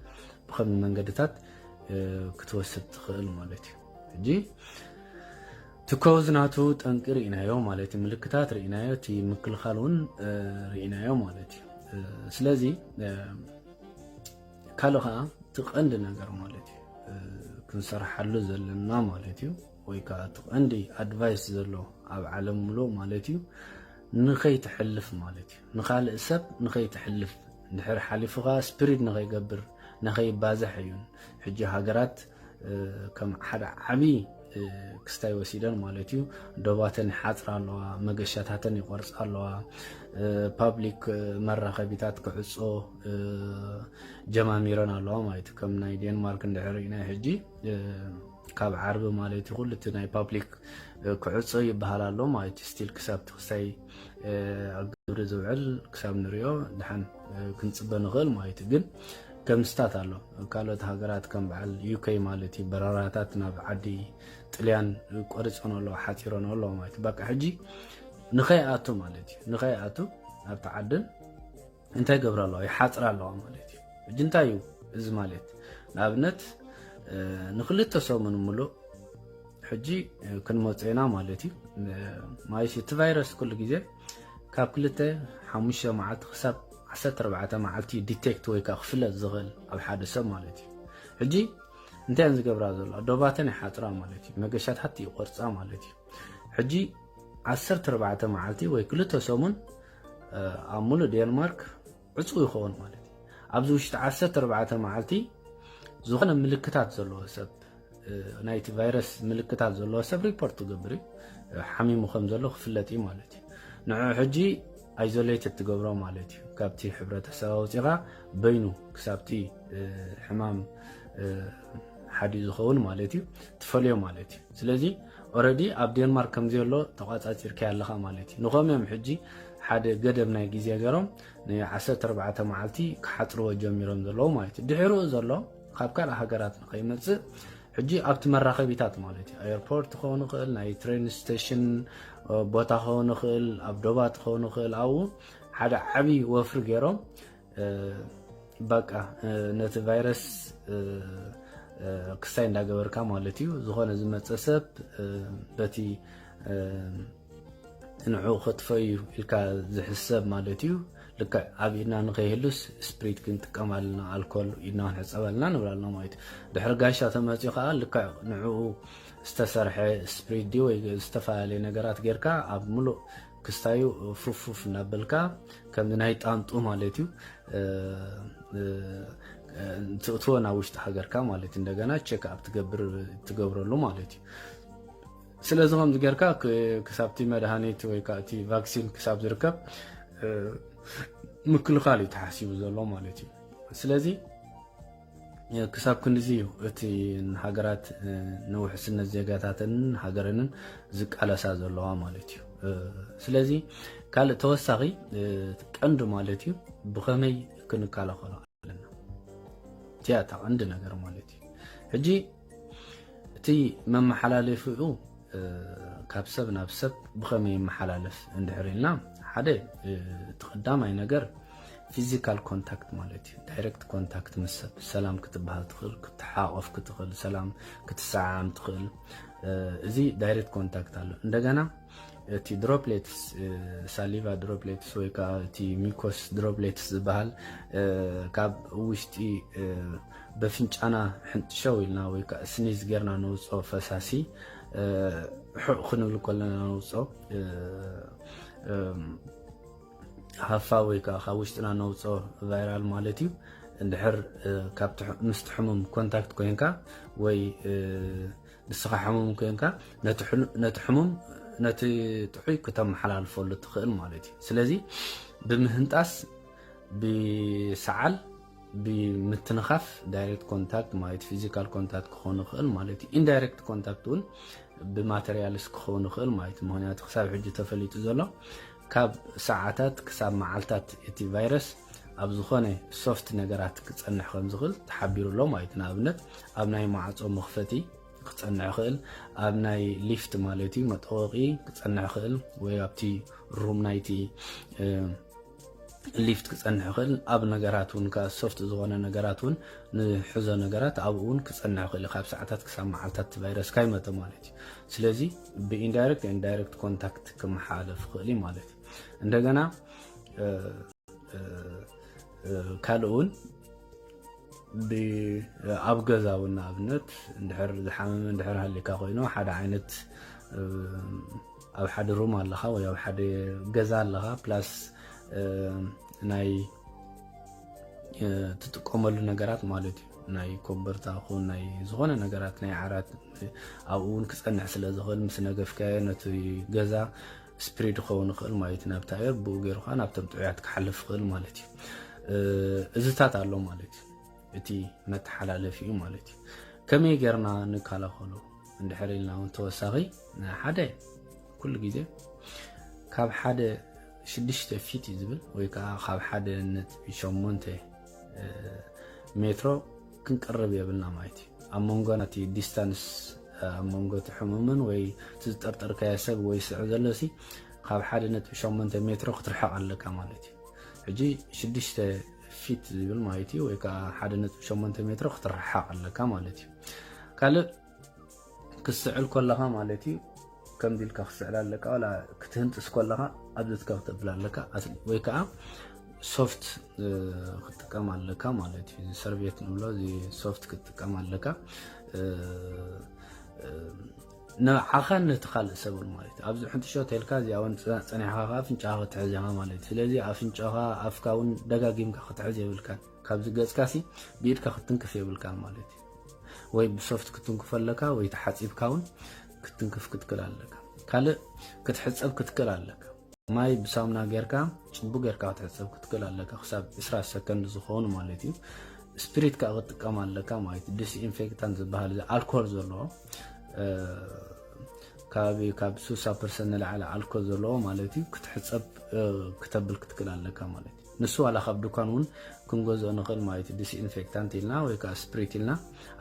ብከም መንገድታት ክትወስድ ትኽእል ማለት እዩ። ሕጂ ትኮዝ ናቱ ጠንቂ ሪኢናዮ ማለት እዩ ምልክታት ሪኢናዮ እቲ ምክልኻል እውን ሪኢናዮ ማለት እዩ ስለዚ ካልእ ከዓ እቲ ቀንዲ ነገር ማለት እዩ ክንሰርሓሉ ዘለና ማለት እዩ ወይ ከዓ እቲ ቀንዲ ኣድቫይስ ዘሎ ኣብ ዓለም ምሎ ማለት እዩ ንኸይትሕልፍ ማለት እዩ ንካልእ ሰብ ንኸይትሕልፍ ድሕር ሓሊፉካ ስፕሪድ ንኸይገብር ንከይባዛሕ እዩን ሕጂ ሃገራት ከም ሓደ ዓብዪ ክስታይ ወሲደን ማለት እዩ ዶባተን ይሓፅራ ኣለዋ መገሻታተን ይቆርፃ ኣለዋ ፓብሊክ መራኸቢታት ክዕፆ ጀማሚረን ኣለዋ ማለት እዩ ከም ናይ ዴንማርክ እንድሕር ኢና ሕጂ ካብ ዓርቢ ማለት እዩ ኩሉ እቲ ናይ ፓብሊክ ክዕፆ ይበሃል ኣሎ ማለት እዩ ስቲል ክሳብቲ ክሳይ ኣብ ግብሪ ዝውዕል ክሳብ ንሪኦ ድሓን ክንፅበ ንኽእል ማለት እዩ ግን ከምስታት ኣሎ ካልኦት ሃገራት ከም በዓል ዩከይ ማለት እዩ በረራታት ናብ ዓዲ ጥልያን ቆሪፆን ኣሎ ሓፂሮን ኣሎ ማለት እዩ በቃ ሕጂ ንኸይኣቱ ማለት እዩ ንኸይኣቱ ኣብቲ ዓድን እንታይ ይገብራ ኣለዋ ይሓፅራ ኣለዋ ማለት እዩ ሕጂ እንታይ እዩ እዚ ማለት ንኣብነት ንክልተ ሰሙን ምሉእ ሕጂ ክንመፅና ማለት እዩ ማለት እቲ ቫይረስ ኩሉ ግዜ ካብ ክልተ ሓሙሽተ መዓልቲ ክሳብ ዓሰርተ ኣርባዕተ መዓልቲ እዩ ዲቴክት ወይ ከዓ ክፍለጥ ዝኽእል ኣብ ሓደ ሰብ ማለት እዩ ሕጂ እንታይ እየን ዝገብራ ዘለዋ ዶባተን ይሓፅራ ማለት እዩ መገሻታት ይቆርፃ ማለት እዩ ሕጂ ዓሰርተ ኣርባዕተ መዓልቲ ወይ ክልተ ሰሙን ኣብ ሙሉእ ዴንማርክ ዕፁው ይኸውን ማለት እዩ። ኣብዚ ውሽጢ 14 መዓልቲ ዝኾነ ምልክታት ዘለዎ ሰብ ናይቲ ቫይረስ ምልክታት ዘለዎ ሰብ ሪፖርት ትገብር እዩ ሓሚሙ ከም ዘሎ ክፍለጥ እዩ ማለት እዩ። ንዑ ሕጂ ኣይዞሌት እትገብሮ ማለት እዩ ካብቲ ሕብረተሰብ ኣውፂኻ በይኑ ክሳብቲ ሕማም ሓዲ ዝኸውን ማለት እዩ ትፈልዮ ማለት እዩ። ስለዚ ኦረዲ ኣብ ዴንማርክ ከምዘየሎ ተቛጻጺርካዮ ኣለኻ ማለት እዩ። ንኸም እዮም ሕጂ ሓደ ገደብ ናይ ግዜ ገይሮም ን ዓሰርተ ኣርባዕተ መዓልቲ ክሓጽርዎ ጀሚሮም ዘለዉ ማለት እዩ። ድሕርኡ ዘሎ ካብ ካልእ ሃገራት ንኸይመጽእ ሕጂ ኣብቲ መራኸቢታት ማለት እዩ ኣየርፖርት ክኸውን ይኽእል ናይ ትሬን ስቴሽን ቦታ ክኸውን ይኽእል ኣብ ዶባት ክኸውን ይኽእል ኣብኡ ሓደ ዓብዪ ወፍሪ ገይሮም ባቃ ነቲ ቫይረስ ክስታይ እንዳገበርካ ማለት እዩ ዝኾነ ዝመፀ ሰብ በቲ ንዕኡ ከጥፈዩ ኢልካ ዝሕሰብ ማለት እዩ ልክዕ ኣብ ኢድና ንከይህሉስ ስፕሪት ክንጥቀም ኣለና ኣልኮል ኢድና ክንሕፀብ ኣለና ንብል ኣለና ማለት እዩ ድሕሪ ጋሻ ተመፅኡ ከዓ ልክዕ ንዕኡ ዝተሰርሐ ስፕሪት ድዩ ወይ ዝተፈላለየ ነገራት ጌርካ ኣብ ምሉእ ክስታዩ ፉፍፉፍ እናበልካ ከም ናይ ጣንጡ ማለት እዩ ትእትዎ ናብ ውሽጢ ሃገርካ ማለት እዩ እንደገና ቸክ ኣብ ትገብረሉ ማለት እዩ ስለዚ ከምዚ ጌርካ ክሳብቲ መድሃኒት ወይ ከዓ እቲ ቫክሲን ክሳብ ዝርከብ ምክልኻል እዩ ተሓሲቡ ዘሎ ማለት እዩ ስለዚ ክሳብ ክንድዚ እዩ እቲ ሃገራት ንውሕስነት ዜጋታተንን ሃገረንን ዝቃለሳ ዘለዋ ማለት እዩ ስለዚ ካልእ ተወሳኺ ቀንዲ ማለት እዩ ብኸመይ ክንከላኸሎ ኣለና እቲያ እታ ቀንዲ ነገር ማለት እዩ ሕጂ እቲ መመሓላለፊኡ ካብ ሰብ ናብ ሰብ ብኸመይ ይመሓላለፍ እንድሕር ኢልና ሓደ እቲ ቀዳማይ ነገር ፊዚካል ኮንታክት ማለት እዩ ዳይረክት ኮንታክት ምስ ሰብ ሰላም ክትበሃል ትኽእል ክትሓቆፍ ክትኽእል ሰላም ክትሰዓዓም ትኽእል እዚ ዳይረክት ኮንታክት ኣሎ እንደገና እቲ ድሮፕሌትስ ሳሊቫ ድሮፕሌትስ ወይ ከዓ እቲ ሚኮስ ድሮፕሌትስ ዝበሃል ካብ ውሽጢ በፍንጫና ሕንጥሸው ኢልና ወይ ከዓ ስኒዝ ጌርና ነውፅኦ ፈሳሲ ሕቕ ክንብል ከለና ነውፅኦ ሃፋ ወይ ከዓ ካብ ውሽጥና ነውፅኦ ቫይራል ማለት እዩ እንድሕር ምስቲ ሕሙም ኮንታክት ኮንካ ወይ ንስኻ ሕሙም ኮይንካ ነቲ ሕሙም ነቲ ጥዑይ ክተመሓላልፈሉ ትኽእል ማለት እዩ ስለዚ ብምህንጣስ ብሰዓል ብምትንኻፍ ዳይሬክት ኮንታክት ማለት ፊዚካል ኮንታክት ክኾን ይኽእል ማለት እዩ ኢንዳይሬክት ኮንታክት እውን ብማቴሪያልስ ክኸውን ይኽእል ማለት እዩ ምክንያቱ ክሳብ ሕጂ ተፈሊጡ ዘሎ ካብ ሰዓታት ክሳብ መዓልታት እቲ ቫይረስ ኣብ ዝኾነ ሶፍት ነገራት ክፀንሕ ከም ዝኽእል ተሓቢሩ ኣሎ ማለት እዩ። ንኣብነት ኣብ ናይ ማዕፆ መኽፈቲ ክፀንዕ ይኽእል፣ ኣብ ናይ ሊፍት ማለት እዩ መጠወቒ ክፀንዕ ይኽእል፣ ወይ ኣብቲ ሩም ናይቲ ሊፍት ክፀንሕ ይኽእል። ኣብ ነገራት እውን ከዓ ሶፍት ዝኾነ ነገራት እውን ንሕዞ ነገራት ኣብኡ እውን ክፀንዕ ይኽእል እዩ፣ ካብ ሰዓታት ክሳብ መዓልታት እቲ ቫይረስ ካይመተ ማለት እዩ። ስለዚ ብኢንዳይሬክት ኢንዳይሬክት ኮንታክት ክመሓላለፍ ይኽእል እዩ ማለት እዩ። እንደገና ካልእ እውን ኣብ ገዛ እውን ንኣብነት እንድሕር ዝሓመመ እንድሕር ሃሊካ ኮይኑ ሓደ ዓይነት ኣብ ሓደ ሩም ኣለካ ወይ ኣብ ሓደ ገዛ ኣለካ ፕላስ ናይ ትጥቀመሉ ነገራት ማለት እዩ ናይ ኮበርታ ኹን ናይ ዝኾነ ነገራት ናይ ዓራት ኣብኡ እውን ክፀንሕ ስለ ዝኽእል ምስ ነገፍካዮ ነቲ ገዛ ስፕሪድ ክኸውን ይኽእል ማለት እዩ ናብቲ ኣየር ብኡ ገይሩ ከዓ ናብቶም ጥዑያት ክሓልፍ ይኽእል ማለት እዩ እዝታት ኣሎ ማለት እዩ እቲ መተሓላለፊ እዩ ማለት እዩ ከመይ ጌርና ንከላኸሎ እንድሕር ኢልና እውን ተወሳኺ ሓደ ኩሉ ግዜ ካብ ሓደ ሽዱሽተ ፊት እዩ ዝብል ወይ ከዓ ካብ ሓደ ነጥቢ ሸሞንተ ሜትሮ ክንቅርብ የብልና ማለት እዩ ኣብ መንጎ እቲ ዲስታንስ ኣብ መንጎ እቲ ሕሙምን ወይ እቲ ዝጠርጠርካዮ ሰብ ወይ ስዕ ዘሎ ሲ ካብ ሓደ ነጥቢ ሸሞንተ ሜትሮ ክትርሕቕ ኣለካ ማለት እዩ ሕጂ ሽዱሽተ ፊት ዝብል ማለት እዩ ወይ ከዓ ሓደ ነጥቢ ሸሞንተ ሜትሮ ክትርሓቕ ኣለካ ማለት እዩ ካልእ ክትስዕል ኮለኻ ማለት እዩ ከምዚ ኢልካ ክትስዕል ኣለካ ዋላ ክትህንጥስ ኮለኻ ኣብዚትካ ክትብል ኣለካ ኣስሊ ወይ ከዓ ሶፍት ክትጥቀም ኣለካ ማለት እዩ ሰርቤት ንብሎ እዚ ሶፍት ክትጥቀም ኣለካ ንዓኻን ነቲ ካልእ ሰብን ማለት እዩ ኣብዚ ሕንጥሾ ተልካ እዚኣ እውን ፀኒሕኻ ከዓ ኣፍንጫኻ ክትሕዝ ኢኻ ማለት እዩ ስለዚ ኣፍንጫኻ ኣፍካ እውን ደጋጊምካ ክትሕዝ የብልካን ካብዚ ገፅካ ሲ ብኢድካ ክትንክፍ የብልካን ማለት እዩ ወይ ብሶፍት ክትንክፎ ኣለካ ወይ ተሓፂብካ እውን ክትንክፍ ክትክል ኣለካ ካልእ ክትሕፀብ ክትክል ኣለካ ማይ ብሳሙና ጌርካ ፅቡቅ ጌርካ ክትሕፀብ ክትክል ኣለካ ክሳብ 20 ሰከንድ ዝኸውን ማለት እዩ ስፕሪት ከዓ ክትጥቀም ኣለካ ማለት እዩ ዲስኢንፌክታን ዝበሃል እዚ ኣልኮል ዘለዎ ከባቢ ካብ 60 ፐርሰንት ንላዕሊ ኣልኮል ዘለዎ ማለት እዩ ክትሕፀብ ክተብል ክትክል ኣለካ ማለት እዩ ንሱ ዋላ ካብ ዱካን ውን ክንገዝኦ ንክእል ማለት እዩ ዲስኢንፌክታንት ኢልና ወይ ከዓ ስፕሪት ኢልና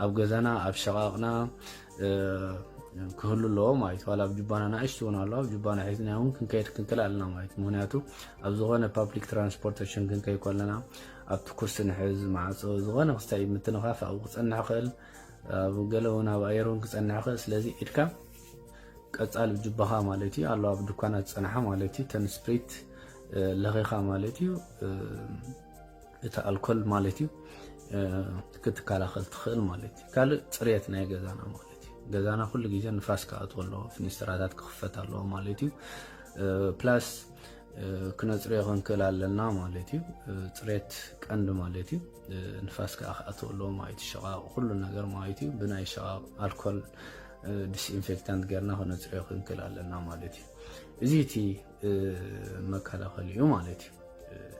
ኣብ ገዛና ኣብ ሸቃቅና ክህሉ ኣለዎ ማለት ዋላ ኣብ ጁባና ናእሽቲ እውን ኣለዋ ኣብ ጁባና ሒዝና እውን ክንከይድ ክንክል ኣለና ማለት ምክንያቱ ኣብ ዝኾነ ፓብሊክ ትራንስፖርቴሽን ክንከይ ከለና ኣብቲ ኩርሲ ንሕዝ ማዕፆ ዝኾነ ክስታይ ምትንኻፍ ኣብኡ ክፀንሕ ይኽእል ኣብ ገለ እውን ኣብ ኣየር እውን ክፀንሕ ይኽእል ስለዚ ኢድካ ቀጻሊ ጁባኻ ማለት እዩ ኣሎ ኣብ ድኳናት ዝጸንሓ ማለት እዩ ተን ስፕሪት ለኺኻ ማለት እዩ እቲ ኣልኮል ማለት እዩ ክትከላኸል ትኽእል ማለት እዩ ካልእ ፅርየት ናይ ገዛና ማለት እዩ ገዛና ኩሉ ግዜ ንፋስ ክኣትዎ ኣለዎ ፍኒስትራታት ክኽፈት ኣለዎ ማለት እዩ ፕላስ ክነፅርዮ ክንክእል ኣለና ማለት እዩ ፅሬት ቀንዲ ማለት እዩ ንፋስ ከዓ ክኣትዎ ኣለዎ ማለት እዩ ሸቃቕ ኩሉ ነገር ማለት እዩ ብናይ ሸቃቕ ኣልኮል ዲስኢንፌክታንት ጌርና ክነፅርዮ ክንክል ኣለና ማለት እዩ እዚ እቲ መከላኸሊ እዩ ማለት እዩ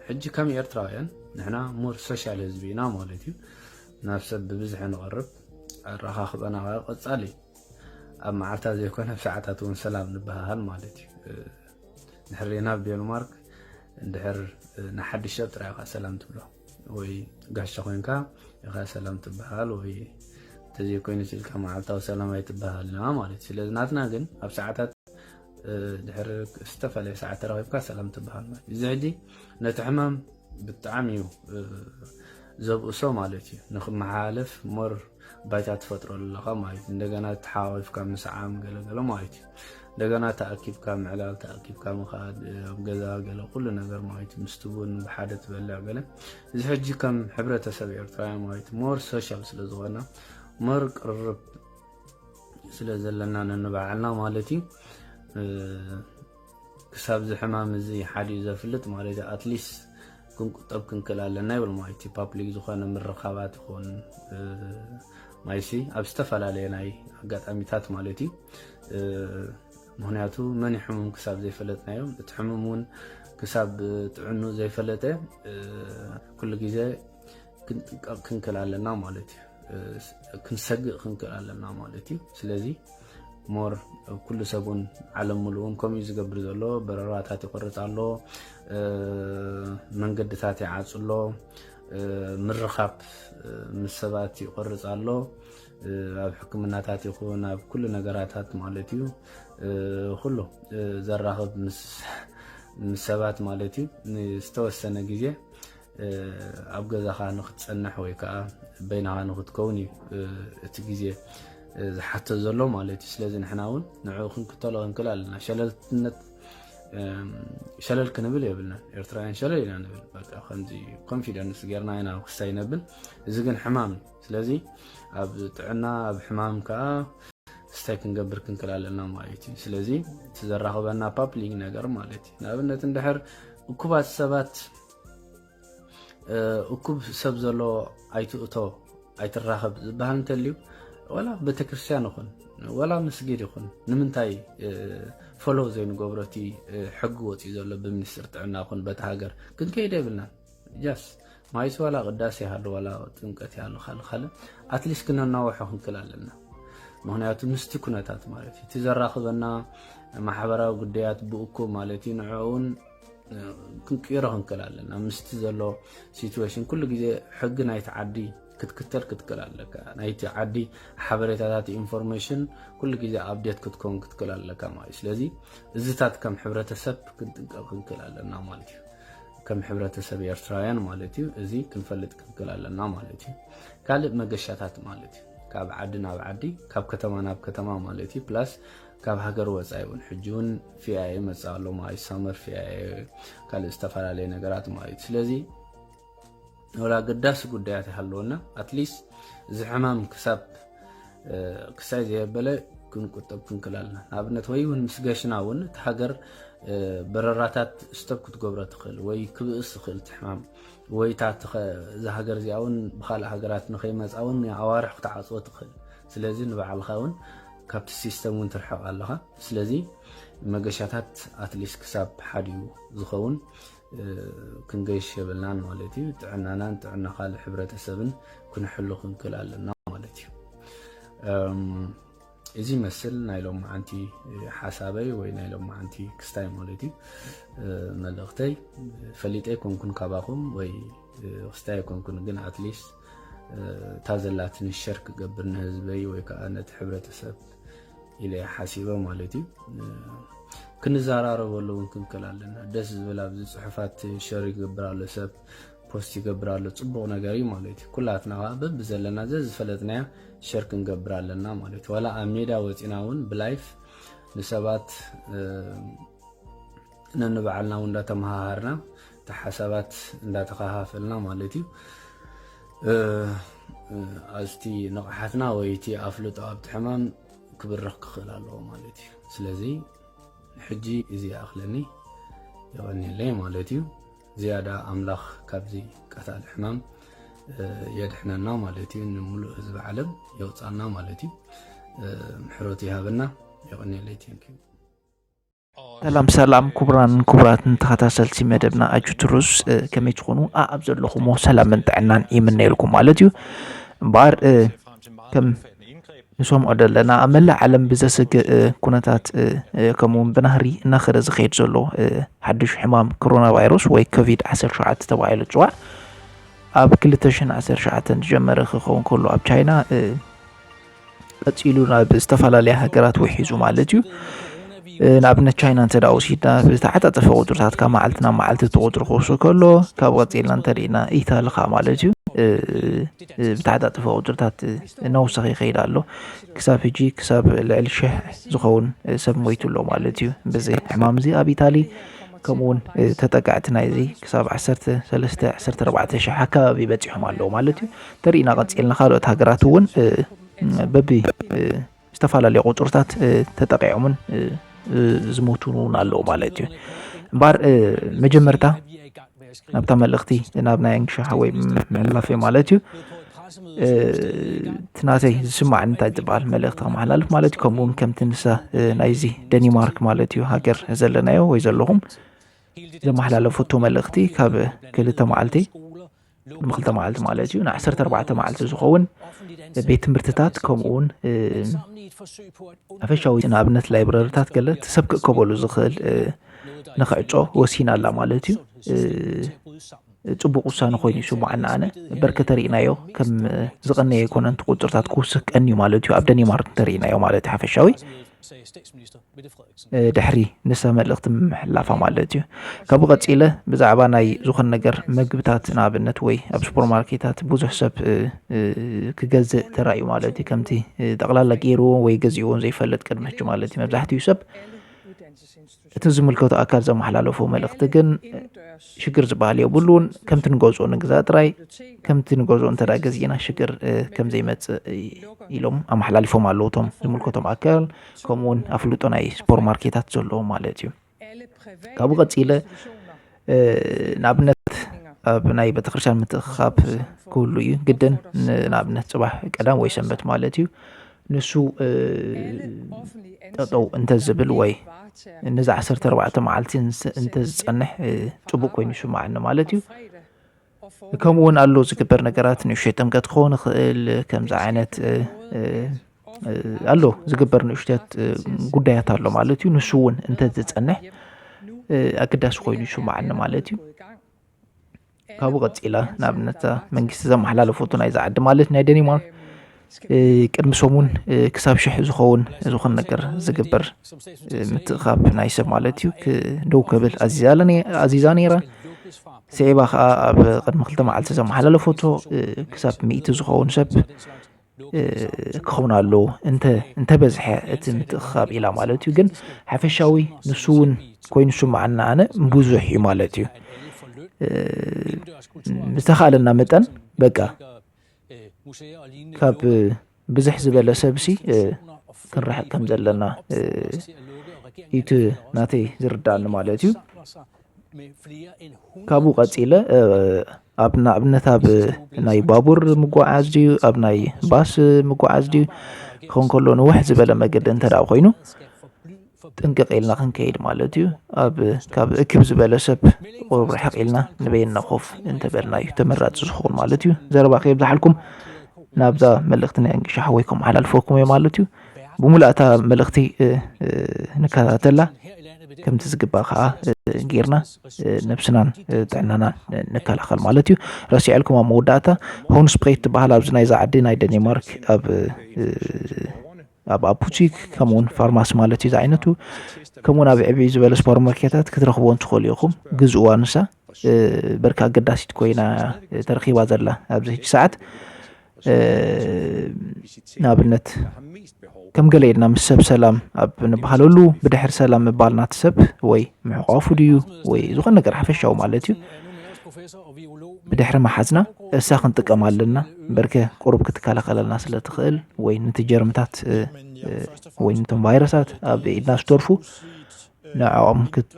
ሕጂ ከም ኤርትራውያን ንሕና ሙር ሶሻል ህዝቢ ኢና ማለት እዩ ናብ ሰብ ብብዝሒ ንቐርብ ኣረኻኽበና ከ ቀፃሊ እዩ ኣብ መዓልታ ዘይኮነ ኣብ ሰዓታት እውን ሰላም ንበሃሃል ማለት እዩ ንሕሪና ኣብ ዴንማርክ እንድሕር ንሓድሽ ሰብ ጥራይ ኢኻ ሰላም ትብሎ ወይ ጋሻ ኮይንካ ኢኻ ሰላም ትበሃል ወይ እንተዘይኮይኑ ስልካ መዓልታዊ ሰላም ኣይትበሃልና ማለት እዩ ስለዚ ናትና ግን ኣብ ሰዓታት ድሕሪ ዝተፈላለየ ሰዓት ተራኺብካ ሰላም ትበሃል ማለት እዩ እዚ ሕጂ ነቲ ሕማም ብጣዕሚ እዩ ዘብእሶ ማለት እዩ ንክመሓላለፍ ሞር ባይታ ትፈጥረሉ ኣለኻ ማለት እዩ እንደገና ተሓዋዊፍካ ምስዓም ገለገለ ማለት እዩ እንደገና ተኣኪብካ ምዕላል ተኣኪብካ ምኻድ ኣብ ገዛ ገለ ኩሉ ነገር ማለት ምስቲ ቡን ብሓደ ትበልዕ ገለ እዚ ሕጂ ከም ሕብረተሰብ ኤርትራውያን ማለት ሞር ሶሻል ስለ ዝኾና ሞር ቅርርብ ስለ ዘለና ነንባዕልና ማለት እዩ ክሳብ እዚ ሕማም እዚ ሓዲኡ ዘፍልጥ ማለት እዩ ኣትሊስት ክንቁጠብ ክንክእል ኣለና ይብል ማይ እቲ ፓፕሊክ ዝኾነ ምርኻባት ይኹን ማይሲ ኣብ ዝተፈላለየ ናይ ኣጋጣሚታት ማለት እዩ ምክንያቱ መን ሕሙም ክሳብ ዘይፈለጥናዮም እቲ ሕሙም እውን ክሳብ ጥዕኑ ዘይፈለጠ ኩሉ ግዜ ክንጥቀቕ ክንክእል ኣለና ማለት እዩ ክንሰግእ ክንክእል ኣለና ማለት እዩ ስለዚ ሞር ኩሉ ሰብ እውን ዓለም ሙሉእውን ከምኡ እዩ ዝገብር ዘሎ በረራታት ይቆርፅ ኣሎ መንገድታት ይዓፅ ኣሎ ምርኻብ ምስ ሰባት ይቆርፅ ኣሎ ኣብ ሕክምናታት ይኹን ኣብ ኩሉ ነገራታት ማለት እዩ ኩሉ ዘራኽብ ምስ ሰባት ማለት እዩ ንዝተወሰነ ግዜ ኣብ ገዛኻ ንክትጸንሕ ወይ ከኣ በይናኻ ንክትከውን እዩ እቲ ግዜ ዝሓቶ ዘሎ ማለት እዩ ስለዚ ንሕና እውን ንዕኡ ክንክተሎ ክንክል ኣለና ሸለልትነት ሸለል ክንብል የብልና ኤርትራውያን ሸለል ኢና ንብል በቃ ከምዚ ኮንፊደንስ ጌርና ኢና ክሳይ ነብል እዚ ግን ሕማም እዩ ስለዚ ኣብ ጥዕና ኣብ ሕማም ከዓ ስታይ ክንገብር ክንክል ኣለና ማለት እዩ ስለዚ እቲ ዘራኽበና ፓፕሊንግ ነገር ማለት እዩ ንኣብነት እንድሕር እኩባት ሰባት እኩብ ሰብ ዘለዎ ኣይትእቶ ኣይትራኸብ ዝበሃል እንተልዩ ወላ ቤተክርስትያን ይኹን ወላ መስጊድ ይኹን ንምንታይ ፎሎ ዘይንገብሮ እቲ ሕጊ ወፂኡ ዘሎ ብሚኒስትር ጥዕና ይኹን በቲ ሃገር ክንከይደ የብልናን ጃስ ማይስ ዋላ ቅዳሴ ይሃሉ ዋላ ጥምቀት ይሃሉ ካል ካልእ ኣትሊስት ክነናወሖ ክንክል ኣለና ምክንያቱ ምስቲ ኩነታት ማለት እዩ እቲ ዘራኽበና ማሕበራዊ ጉዳያት ብእኩብ ማለት እዩ ንዕኡን ክንቅይሮ ክንክእል ኣለና ምስቲ ዘሎ ሲትዌሽን ኩሉ ግዜ ሕጊ ናይቲ ዓዲ ክትክተል ክትክእል ኣለካ ናይቲ ዓዲ ሓበሬታታት ኢንፎርሜሽን ኩሉ ግዜ ኣብዴት ክትከውን ክትክእል ኣለካ ማለት እዩ ስለዚ እዚታት ከም ሕብረተሰብ ክንጥንቀቕ ክንክእል ኣለና ማለት እዩ ከም ሕብረተሰብ ኤርትራውያን ማለት እዩ እዚ ክንፈልጥ ክንክእል ኣለና ማለት እዩ ካልእ መገሻታት ማለት እዩ ካብ ዓዲ ናብ ዓዲ ካብ ከተማ ናብ ከተማ ማለት እዩ ፕላስ ካብ ሃገር ወፃኢ እውን ሕጂ እውን ፊያኤ መፅኣ ኣሎ ማለት እዩ ሳመር ፊያኤ ካልእ ዝተፈላለየ ነገራት ማለት እዩ ስለዚ ወላ ኣገዳሲ ጉዳያት ይሃለወና ኣትሊስት እዚ ሕማም ክሳብ ክሳይ ዘየበለ ክንቁጠብ ክንክል ኣለና ንኣብነት ወይ እውን ምስ ገሽና እውን እቲ ሃገር በረራታት ስተብ ክትገብሮ ትኽእል ወይ ክብእስ ዝኽእል እቲ ሕማም ወይ እታ እዚ ሃገር እዚኣ እውን ብካልእ ሃገራት ንከይመፃ እውን ኣዋርሕ ክትዓፅዎ ትኽእል ስለዚ ንባዕልኻ ውን ካብቲ ሲስተም ውን ትርሕቕ ኣለኻ ስለዚ መገሻታት ኣትሊስት ክሳብ ሓዲኡ ዝኸውን ክንገሽ የብልናን ማለት እዩ ጥዕናናን ጥዕና ካልእ ሕብረተሰብን ክንሕሉ ክንክል ኣለና ማለት እዩ እዚ መስል ናይ ሎማዓንቲ ሓሳበይ ወይ ናይ ሎማዓንቲ ክስታይ ማለት እዩ መልእኽተይ ፈሊጠ ኣይኮንኩን ካባኹም ወይ ክስታይ ኣይኮንኩን ግን ኣትሊስት እታ ዘላትኒ ሸር ክገብር ንህዝበይ ወይ ከዓ ነቲ ሕብረተሰብ ኢለ ሓሲበ ማለት እዩ ክንዘራረበሉ እውን ክንክል ኣለና ደስ ዝብል ኣብዚ ፅሑፋት ሸር ይገብር ኣሎ ሰብ ፖስት ይገብር ኣሎ ፅቡቅ ነገር እዩ ማለት እዩ ኩላትና ከዓ በቢ ዘለና ዘዝፈለጥናያ ሸር ክንገብር ኣለና ማለት እዩ ዋላ ኣብ ሜዳ ወፂና እውን ብላይፍ ንሰባት ነንባዕልና እውን እንዳተመሃሃርና እቲ ሓሳባት እንዳተኸፋፈልና ማለት እዩ ኣዝቲ ንቕሓትና ወይ እቲ ኣፍልጦ ኣብቲ ሕማም ክብርኽ ክኽእል ኣለዎ ማለት እዩ ስለዚ ሕጂ እዚ ይኣኽለኒ የቐኒለይ ማለት እዩ ዝያዳ ኣምላኽ ካብዚ ቀታሊ ሕማም የድሕነና ማለት እዩ ንምሉእ ህዝቢ ዓለም የውፃና ማለት እዩ ምሕረቱ ይሃበና የቐኒለይ ቴንኪዩ ሰላም ሰላም ኩቡራንን ኩቡራትን ተኸታተልቲ መደብና ኣጁትሩስ ከመይ ትኾኑ ኣብ ዘለኹሞ ሰላምን ጥዕናን ይምነየልኩም ማለት እዩ እምበኣር ከም ንሰምዖ ዘለና ኣብ መላእ ዓለም ብዘስግእ ኩነታት ከምኡውን ብናህሪ እናኸረ ዝኸይድ ዘሎ ሓድሽ ሕማም ኮሮና ቫይረስ ወይ ኮቪድ 17 ተባሂሉ ፅዋዕ ኣብ 217 ዝጀመረ ክኸውን ከሎ ኣብ ቻይና ቀጺሉ ናብ ዝተፈላለያ ሃገራት ውሒዙ ማለት እዩ ንኣብነት ቻይና እንተ ወሲድና ብዝተዓፃፀፈ ቁፅርታት ካብ መዓልቲ ናብ መዓልቲ እቲ ቁፅሪ ክውሱ ከሎ ካብ ቀፂልና እንተሪእና ኢታሊ ከዓ ማለት እዩ ብተዓፃፀፈ ቁፅርታት እናወሰኸ ይኸይድ ኣሎ ክሳብ ሕጂ ክሳብ ልዕሊ ሽሕ ዝኸውን ሰብ ሞይቱ ኣሎ ማለት እዩ በዚ ሕማም እዚ ኣብ ኢታሊ ከምኡ እውን ተጠቃዕቲ ናይዚ ክሳብ ዓሰርተ ሰለስተ ዓሰርተ ኣርባዕተ ሽሕ ኣካባቢ በፂሖም ኣለዉ ማለት እዩ ተሪኢና ቀፂልና ካልኦት ሃገራት እውን በቢ ዝተፈላለዩ ቁፅርታት ተጠቂዖምን ዝሞቱን እውን ኣለዉ ማለት እዩ እምበር መጀመርታ ናብታ መልእኽቲ ናብ ናይ ኣንግሻ ወይ ምሕላፈ ማለት እዩ እቲ ናተይ ዝስማዕኒ እንታይ ዝበሃል መልእኽቲ ከመሓላልፍ ማለት እዩ ከምኡ እውን ከምቲ ንሳ ናይዚ ደኒማርክ ማለት እዩ ሃገር ዘለናዮ ወይ ዘለኹም ዘመሓላለፈቶ መልእኽቲ ካብ ክልተ መዓልቲ ንክልተ መዓልቲ ማለት እዩ ንዓሰርተ ኣርባዕተ መዓልቲ ዝኸውን ቤት ትምህርትታት ከምኡውን ኣፈሻዊ ንኣብነት ላይብረርታት ገለ ሰብ ክእከበሉ ዝኽእል ንክዕጾ ወሲና ኣላ ማለት እዩ ፅቡቅ ውሳነ ኮይኑ ይስምዓኒ ኣነ እበር ከተሪእናዮ ከም ዝቀነየ ኣይኮነን እቲ ቁፅርታት ክውስክ ቀንዩ ማለት እዩ ኣብ ደኒማርክ እንተሪእናዮ ማለት እዩ ሓፈሻዊ ድሕሪ ንሳ መልእኽቲ ምምሕላፋ ማለት እዩ ካብኡ ቀፂለ ብዛዕባ ናይ ዝኾነ ነገር መግብታት ንኣብነት ወይ ኣብ ሱፐርማርኬታት ብዙሕ ሰብ ክገዝእ ተራእዩ ማለት እዩ ከምቲ ጠቕላላ ገይርዎ ወይ ገዚእዎን ዘይፈልጥ ቅድሚ ሕጂ ማለት እዩ መብዛሕትኡ ሰብ እቲ ዝምልከቱ ኣካል ዘመሓላለፎ መልእኽቲ ግን ሽግር ዝበሃል የብሉን ከምቲ ንገዝኦ ንግዛ ጥራይ ከምቲ ንገዝኦ እንተ ገዚእና ሽግር ከምዘይመፅእ ኢሎም ኣመሓላሊፎም ኣለዉ እቶም ዝምልከቶም ኣካል ከምኡ እውን ኣፍልጦ ናይ ሱፐር ማርኬታት ዘለዎ ማለት እዩ ካብኡ ቀፂለ ንኣብነት ኣብ ናይ ቤተክርስትያን ምትእኽኻብ ክህሉ እዩ ግድን ንኣብነት ፅባሕ ቀዳም ወይ ሰንበት ማለት እዩ ንሱ ጠጠው እንተዝብል ወይ ነዚ ዓሰርተ ኣርባዕተ መዓልቲ እንተዝፀንሕ ፅቡቅ ኮይኑ ይስማዓኒ ማለት እዩ ከምኡ እውን ኣሎ ዝግበር ነገራት ንእሽተይ ጥምቀት ክኸውን ይኽእል ከምዚ ዓይነት ኣሎ ዝግበር ንእሽተት ጉዳያት ኣሎ ማለት እዩ ንሱ እውን እንተዝፀንሕ ኣገዳሲ ኮይኑ ይስማዓኒ ማለት እዩ ካብኡ ቀፂላ ንኣብነት መንግስቲ ዘመሓላለፈቱ ናይዚ ዓዲ ማለት ናይ ደኒማርክ ቅድሚ ሰሙን ክሳብ ሽሕ ዝኸውን ዝኾነ ነገር ዝግበር ምትእኻብ ናይ ሰብ ማለት እዩ ደው ክብል ኣዚዛ ነይራ ስዒባ ከዓ ኣብ ቅድሚ ክልተ መዓልቲ ዘመሓላለፈቶ ክሳብ ሚእቲ ዝኸውን ሰብ ክኸውን ኣለዎ እንተ እንተበዝሐ እቲ ምትእኽኻብ ኢላ ማለት እዩ ግን ሓፈሻዊ ንሱ እውን ኮይኑ ስምዓና ኣነ ብዙሕ እዩ ማለት እዩ ዝተኻለና መጠን በቃ ካብ ብዝሕ ዝበለ ሰብሲ ክንርሕቅ ከም ዘለና ኢቲ ናተይ ዝርዳኒ ማለት እዩ ካብኡ ቀጺለ ኣብ ንኣብነት ኣብ ናይ ባቡር ምጓዓዝ ድዩ ኣብ ናይ ባስ ምጓዓዝ ድዩ ክኸውን ከሎ ንውሕ ዝበለ መገዲ እንተ ኮይኑ ጥንቅቕ ኢልና ክንከይድ ማለት እዩ ኣብ ካብ እክብ ዝበለ ሰብ ቁሩብ ርሕቕ ኢልና ንበየና ኮፍ እንተበልና እዩ ተመራፂ ዝኸውን ማለት እዩ ዘረባ ከየብዝሓልኩም ናብዛ መልእኽቲ ናይ እንግሻ ሓወይ ከም ሓላልፈኩም እየ ማለት እዩ ብሙላእታ መልእኽቲ ንከታተላ ከምቲ ዝግባእ ከዓ ጌርና ነብስናን ጥዕናናን ንከላኸል ማለት እዩ ረሲዐልኩም ኣብ መወዳእታ ሆን ስፕሬት ትበሃል ኣብዚ ናይዛ ዓዲ ናይ ደኒማርክ ኣብ ኣብ ኣፑቲክ ከምኡውን ፋርማሲ ማለት እዩ ዝዓይነቱ ከምኡውን ኣብ ዕብይ ዝበለ ስፖር ማርኬታት ክትረኽብዎን ትኽእሉ ኢኹም ግዝእዋ ንሳ በርካ ኣገዳሲት ኮይና ተረኺባ ዘላ ኣብዚ ሕጂ ሰዓት ንኣብነት ከም ገለ ኢልና ምስ ሰብ ሰላም ኣብ ንበሃለሉ ብድሕሪ ሰላም ምባል ናቲ ሰብ ወይ ምሕቋፉ ድዩ ወይ ዝኾነ ነገር ሓፈሻዊ ማለት እዩ ብድሕሪ መሓዝና እሳ ክንጥቀም ኣለና በርከ ቁሩብ ክትከላኸለልና ስለ ትኽእል ወይ ነቲ ጀርምታት ወይ ነቶም ቫይረሳት ኣብ ኢድና ዝተርፉ ንዕኦም ክት